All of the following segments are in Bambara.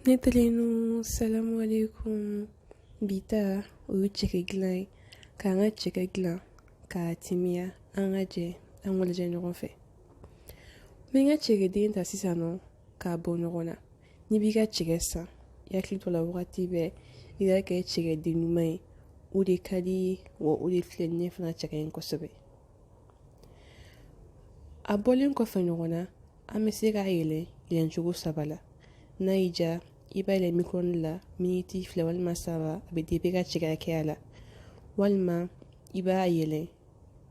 ne teri nu salamu alaikum bi ta o ye cɛkɛ dilan ye k'an ka cɛkɛ dilan k'a timiya an ka jɛ an b'a lajɛ ɲɔgɔn fɛ n bɛ n ka cɛkɛden ta sisan nɔ k'a bɔ ɲɔgɔn na n'i b'i ka cɛkɛ san i hakili to a la wagati bɛɛ i ka kɛ cɛkɛden ɲuman ye o de ka di ye wa o de filɛlen fana cɛ ka ɲi kosɛbɛ a bɔlen kɔfɛ ɲɔgɔn na an bɛ se k'a yɛlɛ yɛlɛcogo saba la n'a y'i diya i b'a yɛlɛ micro-ondes la miniti fila walima saba a bɛ depend i ka cɛkɛ hakɛya la walima i b'a yɛlɛ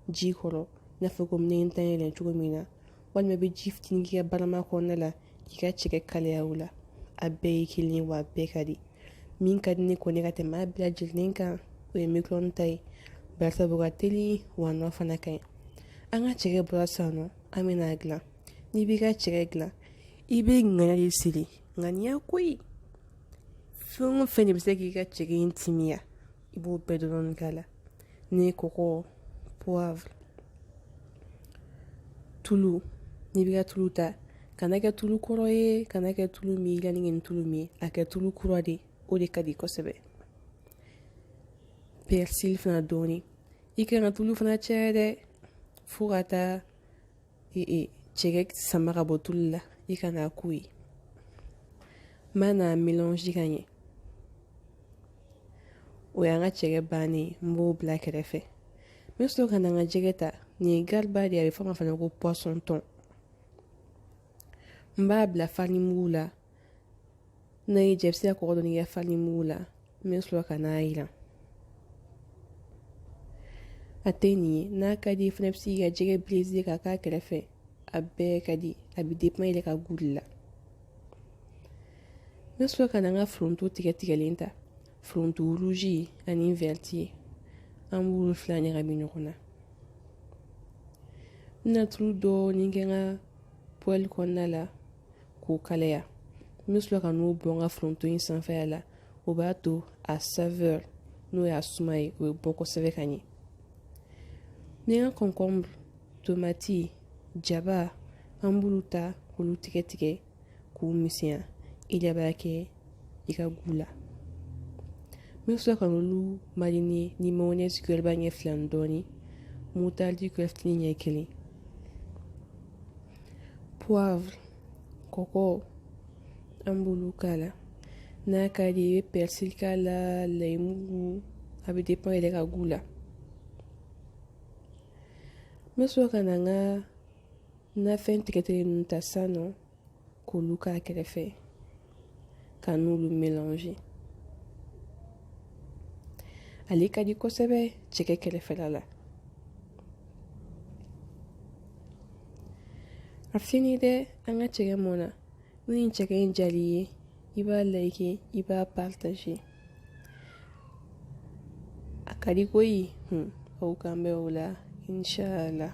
ji kɔrɔ i n'a fɔ komi ne ta yɛlɛ cogo min na walima i bɛ ji fitinin k'i ka barama kɔnɔna la k'i ka cɛkɛ kalaya o la a bɛɛ ye kelen ye wa a bɛɛ ka di min ka di ne kɔni ka tɛmɛ a bɛɛ lajɛlen kan o ye micro-ondes ta ye barisabu ka teli wa a nɔ fana ka ɲi an ka cɛkɛ bɔra sisan nɔ an bɛna a dilan n'i b'i ka cɛkɛ dilan i bɛ ŋaniya de siri ŋaniya koyi fɛn o fɛn de bɛ se k'i ka cɛkɛ in timiya i b'o bɛɛ dɔɔnin k'a la ni kɔgɔ poivre tulu n'i b'i ka tulu ta kana kɛ tulu kɔrɔ ye kana kɛ tulu min ka ni tulu min a kɛ tulu kura de o de ka di kosɛbɛ persil fana dɔɔnin i kana tulu fana caya dɛ fo ka taa cɛkɛ sama ka bɔ tulu la i kana a k'o ye n bɛna a melange ka ɲɛ o y'an ka cɛkɛ bannen ye n b'o bila kɛrɛfɛ n bɛ sɔrɔ ka na n ka jɛgɛ ta nin ye gariba de ye a bɛ fɔ a ma fana ko poisson thon n b'a bila farini mugu la N'a y'i diya i bɛ se ka kɔgɔ dɔɔni kɛ farini mugu la n bɛ sɔrɔ ka n'a jiran a tɛ nin ye n'a ka di i fana bɛ se k'i ka jɛgɛ braisé k'a k'a kɛrɛfɛ a bɛɛ ka di a bɛ depend i yɛrɛ ka goût de la n bɛ sɔrɔ ka na n ka foronto tigɛ tigɛlen ta foronto rouge ani vert an b'olu fila ɲagami ɲɔgɔn na n bɛna tulu dɔɔni kɛ n ka pɔli kɔnɔna la k'o kalaya n bɛ sɔrɔ ka n'o bɔn n ka foronto in sanfɛla la o b'a to a saveur n'o y'a suma ye o bɛ bɔ kosɛbɛ ka ɲɛ ni n ka concombre tomati jaba an b'olu ta k'olu tigɛ tigɛ k'u misɛnya i de b'a kɛ i ka goût la n bɛ sɔrɔ ka n'olu mariner ni mayonnaise cuillère ba ɲɛ fila ni dɔɔnin moutarde cuillère fitinin ɲɛ kelen poivre kɔkɔ an b'olu k'a la n'a ka di i bɛ persil k'a la layimugu a bɛ depend i yɛrɛ ka goût la n bɛ sɔrɔ ka na n ka nafɛn tigɛtigɛlen ninnu ta sisan nɔ k'olu k'a kɛrɛfɛ ka n'olu mélanger ale ka di kosɛbɛ cɛkɛ kɛrɛfɛla la a fini dɛ an ka cɛkɛ mɔna ni nin cɛkɛ in diyal'i ye i b'a liker i b'a partager a ka di koyi aw k'an bɛn o la inshallah